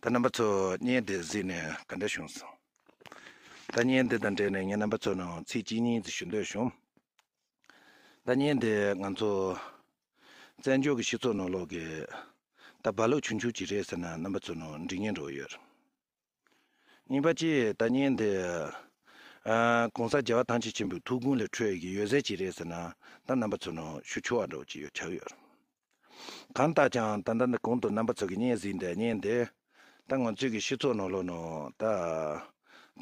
ད་རྣམ་པ་ཚོ་བརྙན་འདི་གཟིགས་ནས་ག་འདྲ་བྱུང་སོང། ད་བརྙན་འདི་དང་འབྲེལ་ནས་ངས་རྣམ་པ་ཚོ་ནང་ཚིག་གཅིག་གཉིས་ཞུ་འདོད་བྱུང། ད་བརྙན་འདི་ང་ཚོ་བཙན་བྱོལ་གྱི་སྤྱི་ཚོགས་ནང་ལོག་གི་ད་བར་ལུགས་ཆུང་ཆུང་གཅིག་རེད་ཟེར་ན་རྣམ་པ་ཚོ་ནང་འགྲིག་ངེས་འགྲོ་གི་ཡོད། གཉིས་པ་གཅིག་ལྟ་ཉན་དེ། གོང་ས་རྒྱལ་བ་ཐང་ཆེན་ཆེན་པོའི་ཐུགས་དགོངས་ལས་འཕྲོས་ཀྱི་ཡོད་ཟས་ཅི་རེད་ཟེར་ན་ད་རྣམ་པ་ཚོ་ནང་ཤུ་ཆུ་བ་འདྲ་བོ་ཅིག་ཡོད་ཆགས་ཡོད། གང་ལྟ་ཀྱང་ད་ལྟ་འདི་གོང་དུ་རྣམ་པ་ཚོ་གི་བརྙན་གཟིགས་འདི་ཉན་དེ། ད་ང་ཚོས་ཀྱི་ཤི་ཚོགས་ནང་ལོག་ནང་ད།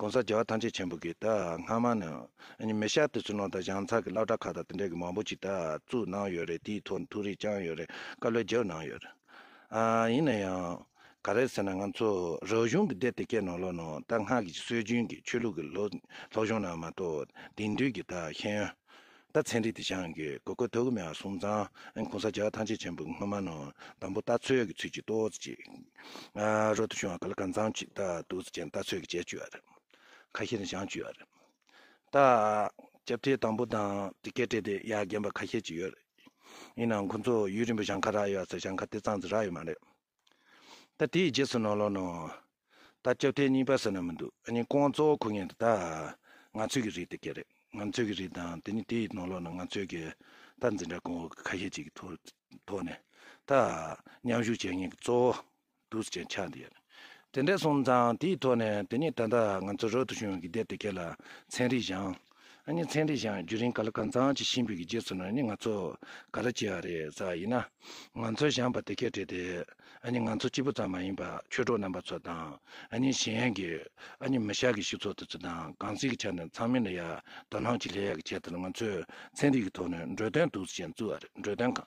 གོང་ས་རྒྱལ་བ་ཐང་ཆེན་ཆེན་པོ་གི་ད་སྔ་མ་ནི་ཨཉི་མི་ཤ་དེ་ཚོ་ནང་ད་བཞང་ཚག་གི་བླ་བྲ་ཁ་ད་དེ་འདྲ་གི་མང་པོ་ཅིག་ད་བཙུགས་གནང་ཡོད་རེད་དེའི་ཐོག་ནས་ཐུགས་རེ་བཅང་ཡོད་རེད་བཀའ་བློས་བརྗོད་གནང་ཡོད་རེད། ཡིན་ན་ཡང། ག་རེད་ཟེར་ན་ང་ཚོ་རང་གཞུང་གི་སྡེ་དེ་གའི་ནང་ལོ་ནང་ད་སྔགས་ཀྱི་སྲོལ་རྒྱུན་གྱི་ཆོས་ལུགས་ཀྱི་ལོ་ལྷོ་གཞུང་ནང་མ་གཏོགས་དེང་དུས་ཀྱི་ད་ཤེས་ཡོན་ད་ཚན་རིག་དེ་སྦྱང་དགོས་གོ་གོ་ཐོ་གུ་མེ་བ་སུམ་ཚང་གུང་ས་རྒྱ་ཐང་ཆེ་ཆེན་པོ་སྔོན་མ་ནང་དང་པོ་ལྟ་ཚོད་ཀྱི་ཚུལ་གྱིས་ཏོག་ཙེ་གཅིག་རོ་ཏུ་བྱུང་བ་ག་ལ་གང་ཚང་གཅིག་ལྟ་འདུག་ཅེས་ལྟ་ཚོད་ཀྱི་བྱས་བཅུག་བ་རེད་ཁ་ཤས་ནས་སྦྱང་བཅུག་བ་རེད། ད། སྐྱབས་བཅོལ་དང་པོ་དང་དེ་སྐད་སྤྲད་དེ་ཡར་རྒན་པ་ཁ་ཤས་ཅིག་ཡོད་རེད། ཡིན་ནའང་ཁོ་ཚོ་ཡུལ་རིང་པོ་ཞང་ཁ་རག་ཡོད་ཟེར་ཞང་ཁ་དེ་གཙང་ཟེར་རག་ཡོད་མ་རེད། ད་དེའི་རྗེས་སུ་ནོར་ལོག་ནོར། ད་སྐྱབས་བཅོལ་གཉིས་པ་ཟེར་ན་མི་འདུག་གཉིས་ཀོང་གཙོ་བོ་ཁུར་ངེས་རེད་ད། ང་ཚོས་ཀྱི་རིགས་དེ་སྐད་རེད། ང་ཚོས་ཀྱི་རིགས་དང་དེ་ནི་དེའི་ནོར་ལོག་ནི་ང་ཚོས་ཀྱི་ད་འཛིན་གྲྭ་ཀོང་བོ་ཁ་ཤས་ཅིག་གི་ཐོག་ནས་ད། མཉམ་ཞུགས་བྱེད་མཁན་གྱི་གཙོ་བོ། དུས་ཆེན་ཆགས་འདི་ཡིན། དེ་འདྲས་སོང་ཙང་དེའི་ཐོག་ནས་དེ་ནས་ད་ལྟ་ང་ཚོ་རོལ་དུ་བྱུང་བའི་དེབ་དེ་གའི་ལ་ཚན་རིག་གཞང། ཨ་ནི་ཚན་རིག་གཞང་བརྒྱུད་རིང་ག་ལ་གང་ཙང་བྱེད་བཞིན་པའི་གི་རྗེས་སུ་ནི་ནི་ང་ཚོ་ག་རེ་བྱེད་ཨ་རེ་ས་ཡིན་ན། ང་ཚོའི་གཞང་པ་དེ་གས་བྲིས་ཏེ་ཨ་ནི་ང་ཚོ་གཅིག་པུ་ཙམ་མ་ཡིན་པ་ཆོས་གྲོགས་རྣམ་པ་ཚོ་དང་ཨ་ནི་གཞན་གི་ཨ་ནི་མི་ཤག་གི་ཞིག་ཚོ་དེ་ཚོ་དང་གང་ཟིག་གི་ཆ་ནས་ཚང་མས་ནི་ཡ་དོ་སྣང་གྱིས་ལྷད་ཡག་གི་བྱས་ཏེ་ནི་ང་ཚོའི་ཚན་རིག་གི་ཐོག་ནས་འགྲོས་དོན་དུས་ཆེན་བཙུགས་ཨ་རེ་འགྲོས་དོན་གང།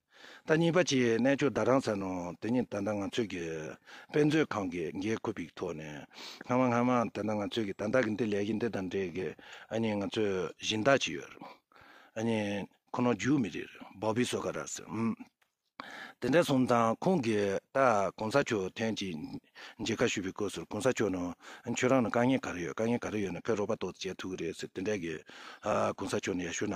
ཟླ་གཉིས་པ་བཅས་གནས་མཆོག་ཟླ་གྲངས་ཚར་ནང་དེ་ཉིན་ད་ལྟ་ང་ཚོས་ཀྱི་དཔེ་མཛོད་ཁང་གི་འགན་ཁུར་པིག་ཐོག་ནས་སྔ་མ་སྔ་མ་ད་ལྟ་ང་ཚོས་ཀྱི་ད་ལྟ་གི་འདི་ལས་གཞི་འདི་དང་འབྲེལ་གྱི་ཨ་ཉིན་ང་ཚོས་གཞི་བདག་ཅིག་ཡོད་རེད་ཨ་ཉིན་ཁོ་ནོ་རྒྱུག་མི་རེད་བོ་བི་སོ་ཀ་ར་སི་འམ་དེ་འདྲ་སོང་ཙང་ཁོང་གིས་ད་གོང་ས་མཆོག་ཐན་ཅིག་མཇལ་ཁ་ཞུས་པའི་སྐོར་ཟུར་གོང་ས་མཆོག་ནོ་ཁྱོད་རང་ནོ་དཀའ་ངལ་ག་རེ་ཡོད་དཀའ་ངལ་ག་རེ་ཡོད་ནོ་ཕེ་རོག་པ་ཏོག་ཙི་བྱས་ཐུག་གི་རེད་ཟེར་དེ་འདྲ་གི་ཨ་གོང་ས་མཆོག་ནོ་ཡ་ཞུ་ན་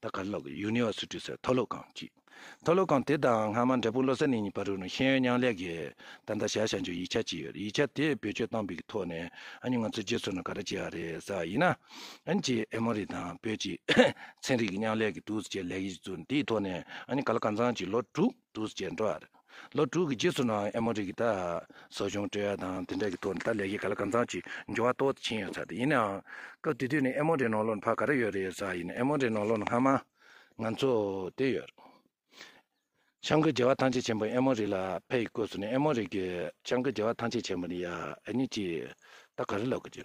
ད་དཀར་ལགས་ཀྱིས་ཡུ་ནི་ཨོ་སུ་ཀྲི་སའི་མཐོ་སློབ་ཁང་གཅིག་མཐོ་སློབ་ཁང་དེ་དང་སྔ་མ་འབྲས་སྤུངས་བློ་གསལ་གླིང་གཉིས་བར་རུ་ནི་ཤེས་ཡོན་མཉམ་ལས་ཀྱི་ད་ལྟ་བྱ་བྱ་འཇུག་ཡིག་ཆ་གཅིག་ཡོད་རེད་ཡིག་ཆ་དེ་བེད་སྤྱོད་གཏང་འབིག་གི་ཐོག་ནས་ཨ་ནི་ང་ཚོ་རྗེས་སུ་ནི་ག་རེ་བྱེད་ཡག་རེད་ཟེར་བ་ཡིན་ན་ཨན་ཅི་ཨེ་མོ་རི་དང་བོད་ཀྱི་ཚན་རིག་གི་མཉམ་ལས་ཀྱི་དུས་ཚོད་ཆེད་ལས་ཡིག་གཟུགས་འདིའི་ཐོག་ནས་ཨ་ནི་ག་ལ་ག་ཚང་གཅིག་ལོ་དྲུག། འདུ་བྱེད་འགྲོ་བ། ལོ་དྲུག་གི་རྗེས་སུ་ནང་ཨེ་མོ་རི་ཀི་ཏཱ། སོགས་གཞུང་སྤྲོས་ཡ་དང་དེ་འདྲ་གི་ཐོག་ནས་ད་ལས་ཀྱི་ག་ལ་གང་ཚང་ཅིག་འབྱུང་བ་ལྟོ་ཕྱིན་ཡོད་ཚ་དེ་ཡིན་ནའང། སྐབས་དེ་དུས་ནས་ཨེ་མོ་རི་ནང་ལོ་ནས་ཕ་ག་རེ་ཡོད་རེ་ཡོད་ཚ་ཡིན་ནའི་ཨེ་མོ་རི་ནང་ལོ་ནས་སྔ་མ། ང་ཚོ། དེ་ཡོད། བྱང་གི་རྒྱལ་བ་ཐང་ཆེན་ཆེན་པོ་ཨེ་མོ་རི་ལ་ཕ་ཡི་སྐོས་སུ་ནས་ཨེ་མོ་རི་ཀི། བྱང་གི་རྒྱལ་བ་ཐང་ཆེན་ཆེན་པོ་ནི་ཡ་ཨེ་ནི་ཅི། ད་ག་རེ་ལབ་གི་ཅི།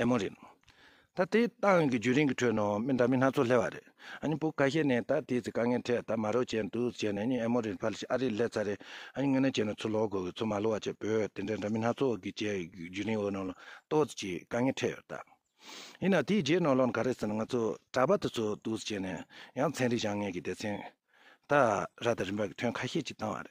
ཨེ་མོ་རེད། ད་དེ་ཏང་གི་རྒྱུན་རིང་གི་ཁྲོད་ནང་མི་འདྲ་མིན་སྣ་ཚོགས་སླེབས་པ་རེད། ཨ་བུ་ཁ་ཤས་ནས་ད་དེ་ཚོའི་དཀའ་ངལ་འཕྲད་ད་མ་རོགས་བྱས་འདུག་ཟེར་ནས་ཨེ་མོ་རེད་ཕར་ཞིག་ཨ་རིར་སླེབས་ཚར་རེད། དངོས་གནས་བྱས་ན་ཚུར་ལོག་དགོས་གི་ཚུར་མ་ལོག་བ་བྱས་བོད་དེ་འདྲ་འདྲ་མིན་སྣ་ཚོགས་ཀྱི་བཅས་རྒྱུན་རིང་འོག་ནང་ལ་ཏོག་ཙེ་གཅིག་དཀའ་ངལ་འཕྲད་ཡོད་ད། ཡིན་ནའང་དེའི་རྗེས་ནང་ལོག་ན་ག་རེ་ཟེར་ན་ང་ཚོ་གྲྭ་པ་དེ་ཚོ་འདུག་ཟེར་ནས་ཡང་ཚན་རིག་བྱང་ངན་གྱི་སྡེ་ཚན་དག་ར་དང་རིམ་པ་གྱི་ཐོན་ཁ་ཤས་ཅིག་བཏང་བ་རེད།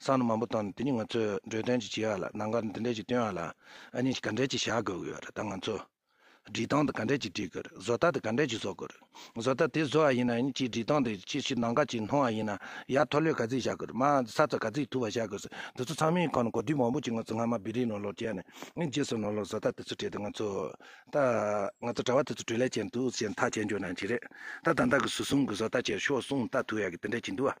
སང་ལོ་མང་པོ་དང་དེ་ནི་ང་ཚོས་འབྲོས་སྟོན་ཅིག་བྱེད་ཡག་ལ་ནང་སྒར་འདི་འདྲས་ཅིག་སྟོན་ཡག་ལ་ཨ་ནི་ག་འདྲས་ཅིག་བྱ་དགོས་ཀྱི་རེད་ད་ང་ཚོས་སྒྲིག་སྟངས་དེ་ག་འདྲས་ཅིག་སྒྲིག་གི་རེད་བཟོ་ལྟ་དེ་ག་འདྲས་ཅིག་བཟོ་དགོས་རེད་བཟོ་ལྟ་དེ་བཟོ་ཡག་ཡིན་ན་ཡིན་གཅིག་སྒྲིག་སྟངས་དེ་ཅིག་ཤོས་ནང་ཁ་ཅིག་སྣོན་ཡག་ཡིན་ན་ཡག་མཐོ་སློས་ག་ཚིག་བྱ་དགོས་རེད་མ་ས་རྩ་ག་ཚིག་ཐུག་པ་བྱ་དགོས་སོ་དེ་ཚོ་ཚང་མའི་ཁོངས་ནས་གོ་སྒྲིག་མང་པོ་བྱེད་ང་ཚོ་སྔ་མ་བེ་རིའི་ནོར་ལོག་བྱས་ནས་ཨིན་རྗེས་སུ་ནོར་ལོག་བཟོ་ལྟ་དེ་ཚོ་བྲིས་ཏེ་ང་ཚོ་ད་ང་ཚོ་གྲྭ་བ་དེ་ཚོ་བྲོས་ལས་ཅན་འདུག་ཅེས་མཐའ་བྱས་འཇོག་ན་ཅི་རེད་ད་ད་ལྟ་གི་ཟུར་གསུམ་གྱི་བཟོ་ལྟ་བྱས་ཤོག་གསུངས་ལྟ་ཐུག་ཡག་གི་དེ་འདྲས་ཅིག་འདུག་ཨ།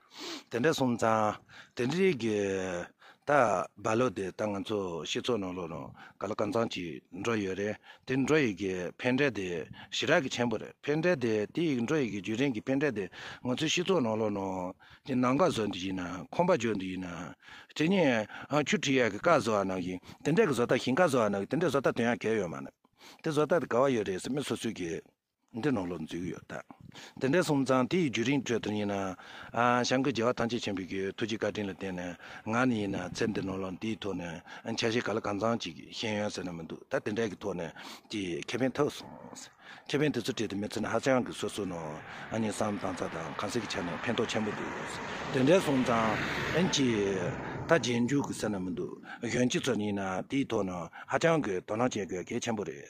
དེ་འདྲ་སོང་ཙང་དེ་འདྲའི་གི་ད་བ་ལོ་དེ་ད་ང་ཚོ་སྤྱི་ཚོགས་ནང་ལོག་ན་ག་ལ་གང་ཙང་གྱིས་འགྲོ་ཡོད་རེད་དེ་འགྲོ་ཡི་གི་ཕན་འབྲས་དེ་ཞི་དྲག་གི་ཆེན་པོ་རེད་ཕན་འབྲས་དེ་དེ་ཡི་འགྲོ་ཡི་གི་རྒྱུ་རིན་གི་ཕན་འབྲས་དེ་ང་ཚོའི་སྤྱི་ཚོགས་ནང་ལོག་ན་དེ་ནང་ཀ་བཟོ་འདི་ཡི་ན་ཁོམ་པ་བརྗོ་འདི་ཡི་ན་དེ་ནས་ཁྱུ་ཁྲི་ཡ་གི་ཀ་བཟོ་བ་ནང་གི་དེ་འདྲ་གི་བཟོ་ལྟ་ཞིང་ཀ་བཟོ་བ་ནང་གི་དེ་འདྲ་བཟོ་ལྟ་དོན་ཡང་གལ་ཡོད་མ་རེད་དེ་བཟོ་ལྟ་དེ་ག་བ་ཡོད་རེད་སེ་མི་སོ་སོའི་གི། འདི་ནང་ལོག་འཛུལ་གྱི་ཡོད། དེ་འདྲའི་སོང་ཙང་དེ་ཡི་བརྒྱུད་རིང་ཁྲོད་དུ་ཡིན་ན། བྱང་གི་རྒྱལ་བ་ཐམས་ཅད་ཆེན་པོའི་ཐུགས་ཀྱི་བཀའ་དྲིན་ལ་བརྟེན་ནས་ང་ནི་ཡིན་ན་ཚེ་འདི་ནང་ལོག་འདིའི་ཐོག་ནས་འཆར་གཞི་ག་ལ་གང་ཙམ་ཅིག་ཤེས་ཡོན་ཟེར་ན་མི་འདུག་ད་དེ་འདྲའི་གི་ཐོག་ནས་ཀྱི་ཁེ་ཕན་ཐོབ་སོང། ཁེ་ཕན་དེ་ཚོ་བྲིས་ཏེ་མི་ཚེ་ནི་ཧ་ཅང་གི་སོ་སོའི་ནང་ནས་བསམ་དང་བཙལ་དང་གང་ཟག་གི་ཆ་ནས་ཕན་ཐོག་ཆེན་པོ་འདུག་དེ་འདྲའི་སོང་ཙང་ཀྱི་ད་རྗེས་འཇུག་གི་ཟེར་ན་མི་འདུག་གཞོན་སྐྱེས་ཚོ་ནི་ཡིན་ན་དེ་ཡི་ཐོག་ནས་ཧ་ཅང་གི་དོ་སྣང་བྱེད་དགོས་གལ་ཆེན་པོ་རེད།